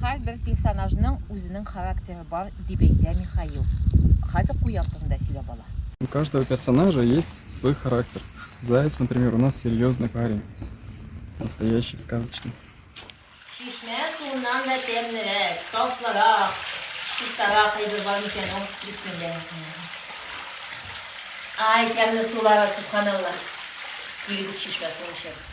Һәрбер персонажның үзенең характеры бар, дип әйтә Михаил. Хәзер куян турында сөйләп ала. У каждого персонажа есть свой характер. Заяц, например, у нас серьезный парень. Настоящий, сказочный. Чишмә суыннан да тәмлерәк, сафлырак, чистарак әйбер бар микән ул? Бисмилләһи рахмани рахим. Ай, тәмле сулар, субханалла. Килегез, чишмә суын эчәбез.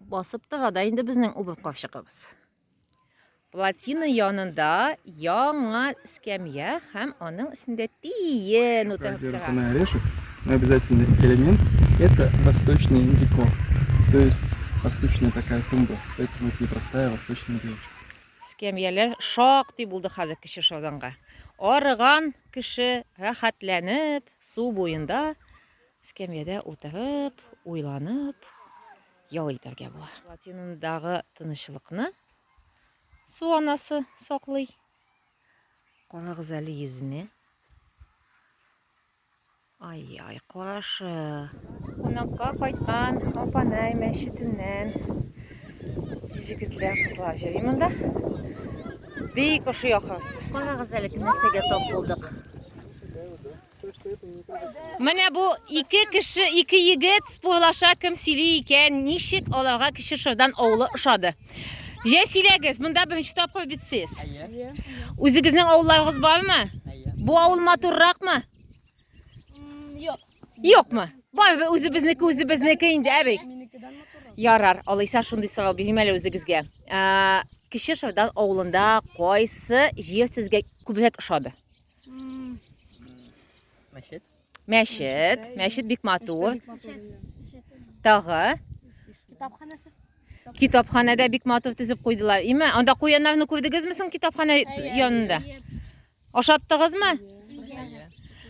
Басып тыга да инде безнең убыр капчыгыбыз. Плотина янында яңа скамья һәм аның өстендә тиен утырып тора. орешек, но обязательный элемент – это восточный декор, то есть восточная такая тумба, поэтому это непростая восточная девушка. Скамьялар шактый булды хәзер кеше шауданга. Арыган кеше рәхәтләнеп су буенда Эскәмиядә утырып, уйланып, ял итәргә була. Платинумдагы тынычлыкны су анасы саклый. Карагыз әле йөзенә. Ай-ай, карашы. Кунакка кайткан Апанай мәчетеннән җегетләр, кызлар йөри монда. Бик ошый ахрысы. Карагыз әле, нәрсәгә тап булдык. Менә бу ике кеше, ике егет спойлаша кем сөйли икән, ничек аларга кеше шырдан авылы ошады. Җә сөйләгез, монда беренче тапкыр бит сез. Үзегезнең авылларыгыз бармы? Бу авыл матурракмы? Юк. Юкмы? Барыбер үзебезнеке үзебезнеке инде, әби. Ярар, алайса шундый сорау бирим әле үзегезгә. Ә, Кече Шырдан авылында кайсы җир сезгә күбрәк ошады? Мәчет. Мәчет. Мәчет бик матур. Тагы. Китапханасы. Китапханәдә бик матур тезеп куйдылар. Име, анда куяннарны күрдегезме соң китапханә янында? Ашаттыгызмы?